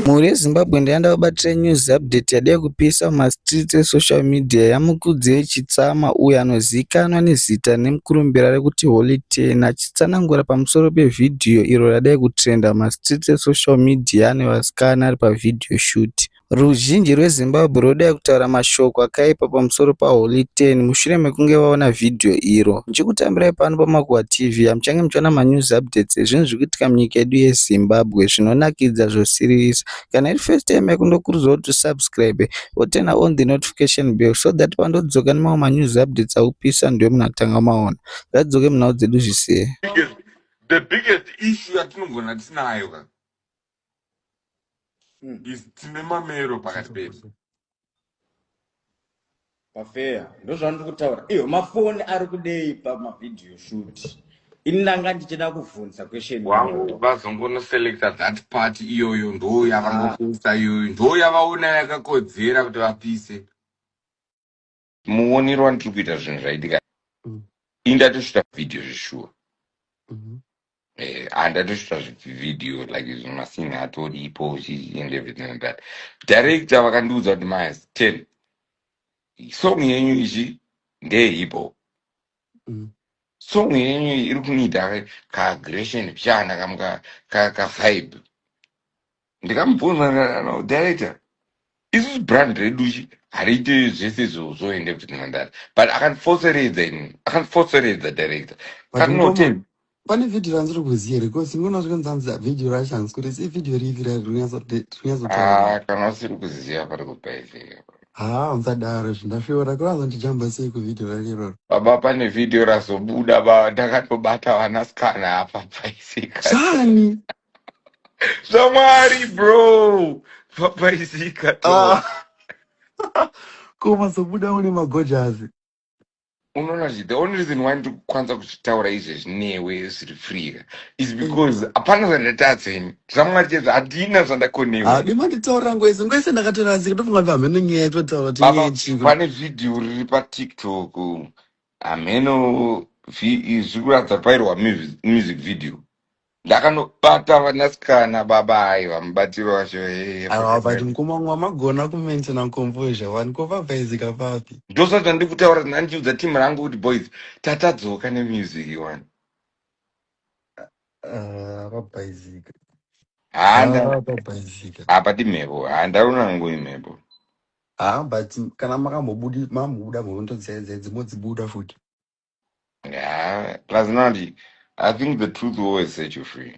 Mhuri yeZimbabwe ndayanda vabatira news update yadai kupisa mumastreets esocial media yaMukudzei Chitsama uyo anozivikanwa nezita nemukurumbira rekuti Holy Ten achitsanangura pamusoro pevhidhiyo iro radai kutrenda mumastreets esocial media ane vasikana ari pavideo shoot. Ruzhinji rweZimbabwe rwodai kutaura mashoko akaipa pamusoro paHoly Ten mushure mekunge vaona vhidhiyo iro. Ndichikutambirai pano paMakuhwa TV hamuchange muchiona manews updates ezvinhu zviri kuitika munyika yedu yeZimbabwe zvinonakidza zvosiririsa. Kana iri first time yako ndokurudzirwa kuti usubscribe woturner on the notification bell so that pandodzoka nemamwe manews updates akupisa ndiwe munhu atanga kumaona. Ngadzoke munhau dzedu zvise. The biggest issue yatinogona tinayo ka. Mm. is tine mamero pakati pedu pafeya ndozvandiri kutaura iyo mafoni ari kudei pamavhidhiyo shoot ini ndanga ndichida kuvhunza question wangu iyoyo. vazongonoselecta that part iyoyo ndoo yavangokuisa iyoyo ndoo yavaona yakakodzera kuti vapise muonero wandiri kuita zvinhu zvaitika mm. ini ndatosvita vhidhiyo zveshuwa mm-hmm. eh, andatosvita zvivhidhiyo like zvimasinhi atoripo and everything like that director vakandiudza kuti mas ten song yenyu ichi ndeyehipo mm. song yenyu iri kuniita kaagression pchana kamka kavibe ndikamubvunza ndikana director isusu brand redu chi hariite zvese izvo zvoende kuti nhandare but akandifoseredza ini akandifoseredza director kanote pane vhidhiyo randiri kuziva here bcause imwe unasvika nzanzi vhidhiyo rashanzi kuti si vhidhiyo ripi rarinyatsotaura ah, kana usiri kuziva pari kubva izee haa musadaro izvi ndasvora kurazondijamba sei kuvhidhiyo rariroro baba pane vhidhiyo razobuda ba ndakatobata vanasikana apa paisika chani zvamwari bro papaizika to Ah. koma sobuda une magojazi unoona zvi the only reason why ndiri kukwanisa kuzvitaura izvezvi newe zviri freeka is because hapana zvandatadza ini zvamwari chezvo handina zvandakonewa hadi manditaurira nguva yese nguva yese ndakatorasika ndofunga kuti hameno nyaya yatinotaura kuti nyaya baba yechiko pane vhidhiyo riri patiktok hameno vi- zviri kuratidza pairwa mu- music video Ndakanobata vanasikana baba hai vamubatiro wacho hee Awa but forget. mkoma wangu wamagona kumaintain and composure wani ko vavhaizika papi. Ndosati zvandiri kutaura ndandiudza team rangu kuti boys tatadzoka nemusic iwani. Ah, vabhaizika. Haa nda Ah, vabhaizika. hapadi mhepo. Haa ndaona hangu imhepo. Ah, but kana makambobudi mambobuda mhondo dzenze dzimodzibuda futi. Yeah, plus Nandi, I think the truth will always set you free.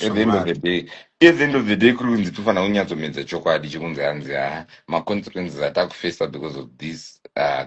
At the end of the Chokwadi. day, at the end of the day, kuri kunzi tofanira kunyatsomedza chokwadi chekunzi hanzi ah, ma consequences atakufesa because of this uh,